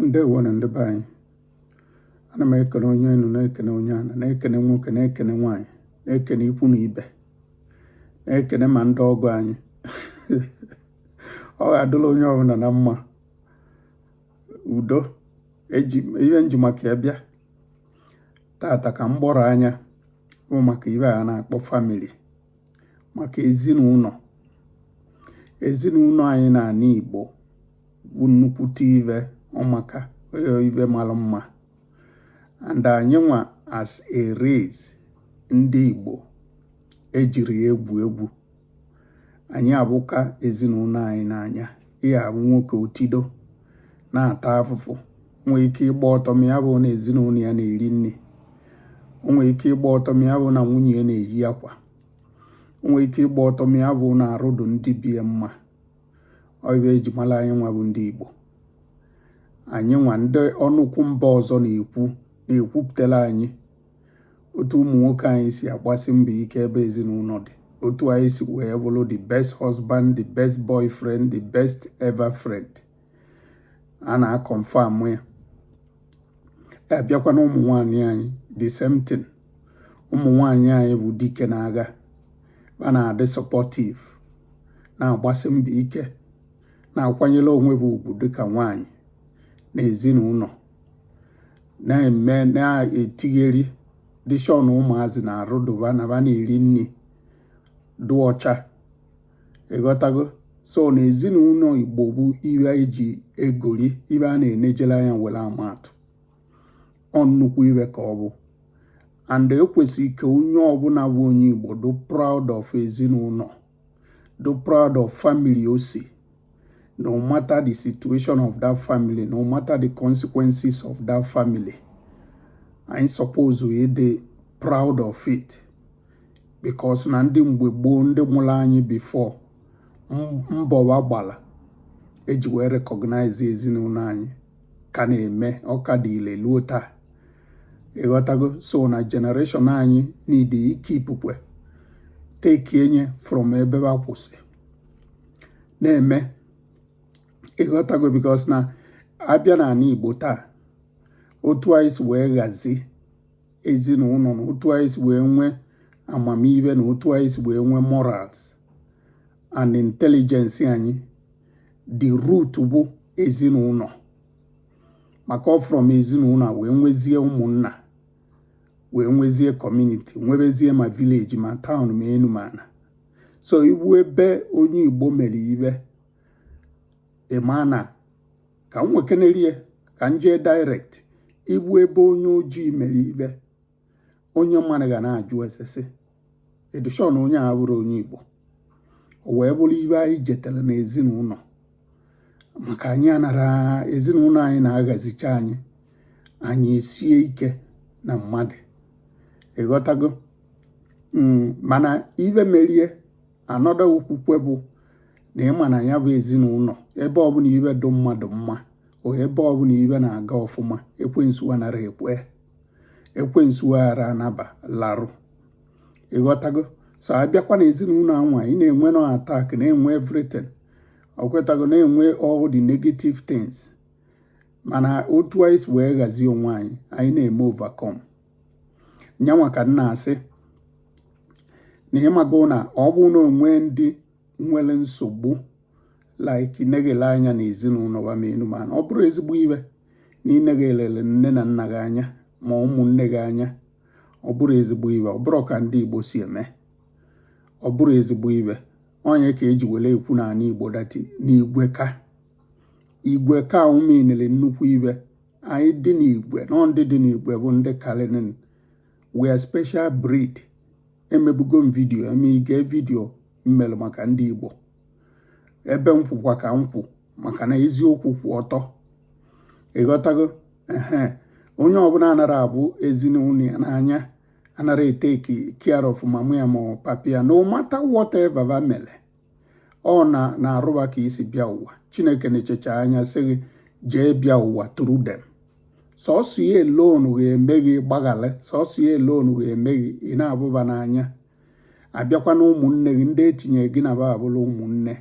ndewo nụ ndị be anyị ana m ekene onye enu na-ekene onye ana na-ekene nwoke na-ekene nwaanyị na-ekene ikwu na ibe na-ekene ma ndị ọgọ anyị ọ ga-adụla onye ọbụla na mma udo ihe m ji maka ya bịa tata ka m gbọrọ anya bụ maka ive a na-akpọ family maka ezinụlọ ezinụlọ anyị n'ana Igbo nnukwute ive ọmaka eh, ive mara mma and anyị nwa as a race ndị Igbo ejirọ ya egwu egwu anyị avụka ezinụlọ anyị n'anya ị ya-avụ nwoke o tido na-ata afụfụ o nwee ike ịgba ọtọ ma ya bụ na ezinụlọ ya na-eri nri o nwere ike ịgba ọtọ ma ya bụ na nwunye ya na-eyi akwa o nwere ike ịgba ọtọ ma ya bụ na arụ dụ ndị be ya mma ọ ive e ji mara anyị nwa bụ ndị Igbo anyị nwa ndị ọnụkwụ mba ọzọ na-ekwu na-ekwupụtara anyị otu ụmụ nwoke anyị si agbasi mbọ ike ebe ezinụlọ dị otu anyị si wee bụrụ the best husband the best boyfriend the best ever friend a na-aconfirm ya a bịakwa na ụmụ nwaanyị anyị the same thing ụmụ nwaanyị anyị bụ dike n'agha va na-adị supportive na-agbasi mbọ ike na-akwanyere onwe va ugwu dịka nwaanyị na ezinụlọ na-eme na-etake care dishọn ụmụazị na arụ dụ va na va na-eri nri dị ọcha ịghọtago so na ezinụlọ Igbo bụ ive e ji egori ive a na-enejere anya were amatụ ọ nnukwu ive ka ọ bụ and e kwesịrị ka onye ọbụla bụ onye Igbo dụ proud of ezinụlọ dụ proud of family o si no matter the situation of that family no matter the consequences of that family anyị suppose ịdị proud of it because na ndị mgbe gboo ndị mụrụ anyị before mbọ va gbara e ji wee recognize ezinụlọ anyị ka na-eme ọ ka dị ile luo taa ịghọtago so na generation anyị need ịkeepụkwa takenye from ebe va kwụsị na-eme ịghọtago because na a bịa n'ala Igbo taa otu anyị si wee ghazi ezinụlọ na otu anyị si wee nwee amamihe na otu anyị si wee nwee morals and intelligence anyị the root bụ ezinụlọ maka ọ from ezinụlọ wee nwezie ụmụnna wee nwezie community nwebezie ma village ma town ma enu ma ana so ị vụ ebe onye Igbo mere ive ị ma na ka m nwekenerie ka m jee direct ịbụ ebe onye ojii mere ibe onye mmadụ ga na-ajụ ese sị ị dị shọ n'onye a bụrụ onye igbo o wee bụrụ ibe anyị jetara n'ezinụlọ maka anyị anara ezinụlọ anyị na-aghazicha anyị anyị esie ike na mmadụ ịghọtago hmm, mana ibe merie another okwu kwa bụ na ịma na ya bụ ezinụlọ ebe ọbụla ibe dụ mmadụ mma o ebe ọbụla ibe na-aga ọfụma ekwensu anara ekwe ekwensu aghara anaba larụ ịghọtago so abịakwa na ezinụlọ anwa ị na-enwe nọ attack na-enwe everything ịghọtago na-enwe all the negative things mana otu anyị si wee ghazie onwe anyị anyị na-eme overcome nyanwa ka m na-asị na ịmago na ọ bụ na o nwee ndị nwere nsogbu like ịneghele anya na ezinụlọ ba ma enu mana ọ bụrụ ezigbo ibe na ịneghelele nne na nna gị anya ma ụmụnne gị anya ọ bụrụ ezigbo ibe ọ bụrụ ka ndị Igbo si eme ọ bụrụ ezigbo ibe ọ nya ka eji were ekwu n'ala Igbo that n'igwe ka igwe ka ụmụinere nnukwu ibe anyị dị n'igwe na ndị dị n'igwe bụ ndị kalinin we are special breed emebugo m video eme ige video m melụ maka ndị igbo ebe m kwụkwa ka m kwụ maka na eziokwu kwụ ọtọ ịghọtago ehe onye ọbụla anara abụ ezinụlọ ya n'anya anara eteki care of mama ya ma papa ya no matter whatever va mere ọ na n'arụ ba ka i si bịa ụwa chineke nechecha anya sị gị jee bịa ụwa through them sọsọ ya alone ga-eme gị gbaghara sọsọ ya alone ga-eme gị ị na-abụ ba n'anya abịakwa na ụmụnne gị ndị etinye gị na ba abụla ụmụnne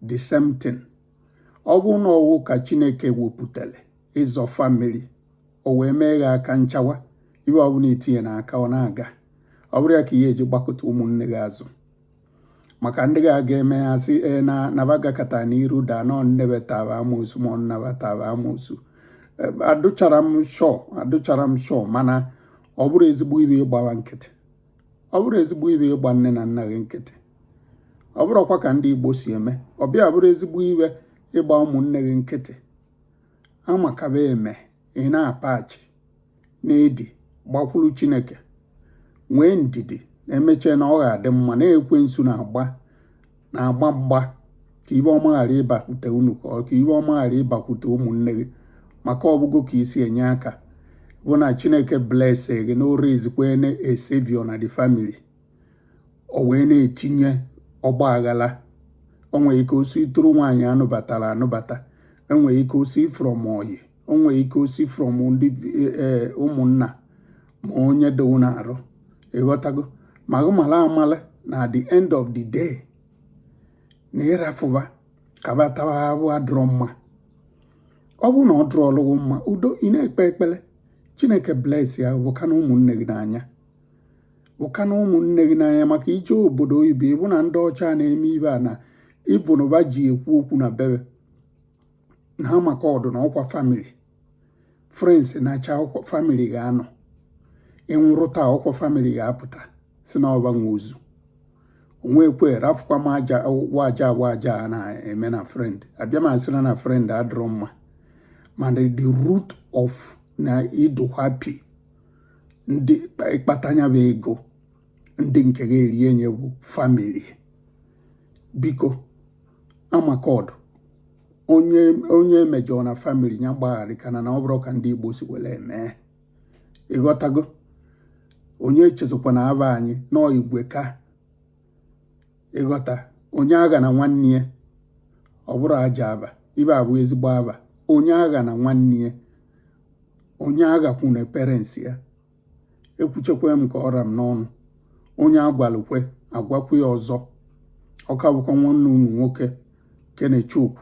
the same thing ọ bụ na ọwụ ka chineke wepụtara ịzọ family o wee mee gị aka nchawa ibe ọbụla i tinye n'aka ọ na-aga ọ bụrụ ya ka ị ga-eji gbakụta ụmụnne gị azụ maka ndị ga-aga eme ya sị e, na na ba gakata n'iru daa na nne ba ta ba amoosu ma ọ nna ba ta ba amoosu e, adụchara m shọ adụchara m shọ mana ọ bụrụ ezigbo ibe ịgba wa nkịtị ọ bụrụ ezigbo ibe ịgba nne na nna gị nkịtị ọ bụrụkwa ka ndị Igbo si eme ọbịa bụrụ ezigbo ibe ịgba ụmụnne gị nkịtị a ma ka ba eme ị na-apachi na-edi gbakwuru Chineke nwee ndidi na emechee na ọ ga-adị mma na ekwensu na-agba na-agba mgba ka ibe ọma ghara ịbakwute unu ka ibe ọma ghara ịbakwute ụmụnne gị maka ọ bụgo ka i si enye aka bụ na Chineke blese gị na o raise a savior na the family o wee na-etinye ọgba aghara o nwere ike o si through nwaanyị a nụbatara anụbata o nwere ike o si from ọyị o nwere ike o si from ndị eh, eh, ụmụnna ma onye dowu na arụ ị ghọtago ma gị mala amala na the end of the day na ịrafụ va ka batawa abụ adụrọ mma ọ bụrụ na ọ dụrụ ọlụgwụ mma udo ị na-ekpe ekpere chineke bless ya vụkana ụmụnne gị n'anya vụkana ụmụnne gị n'anya maka ije obodo oyibo ị vụ na ndị ọcha na-eme ive a na ị vụnụ va ji ekwu okwu na bebe na ama ka ọ dụ na ọ kwa family friends naachaa ọ kwa family ga-anọ ị nwụrụ taa ọ kwa family ga-apụta sị na ọ va nwe ozu onwekwe rafụkwa m aja waja waja a na-eme na friend abịa m asịrọ na friend adịrọ mma mana the root of na ị dụ happy ndị ị kpata nya bụ ego ndị nke ga-eri nye bụ family biko ama ka ọ dụ onye mejọọ na family ya gbagharịkana na ọ bụrụ ka ndị Igbo si were eme ị ghọtago onye echezokwana ava anyị nọọ igwe ka ị ghọta onye aghana nwanne ya ọ bụrọ ajọ ava ive a bụ ezigbo ava onye aghana nwanne ya onye aghakwuna parents ya ekwuchakwa m ka ọ ra m n'ọnụ onye a gwalụ kwe a gwakwu ya ọzọ ọ ka bụkwa nwanne unu nwoke kenechukwu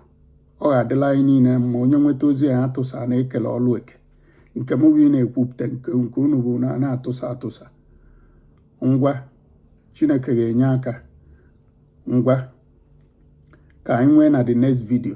ọ ga-adịlị anyị niile mma onye nweta ozi a ya tụsa na e kele ọlụ eke nke m bụ ịna-ekwupụta nke unu bụ ịna-atụsa atụsa ngwa chineke ga-enye aka ngwa ka anyị nwee na the next video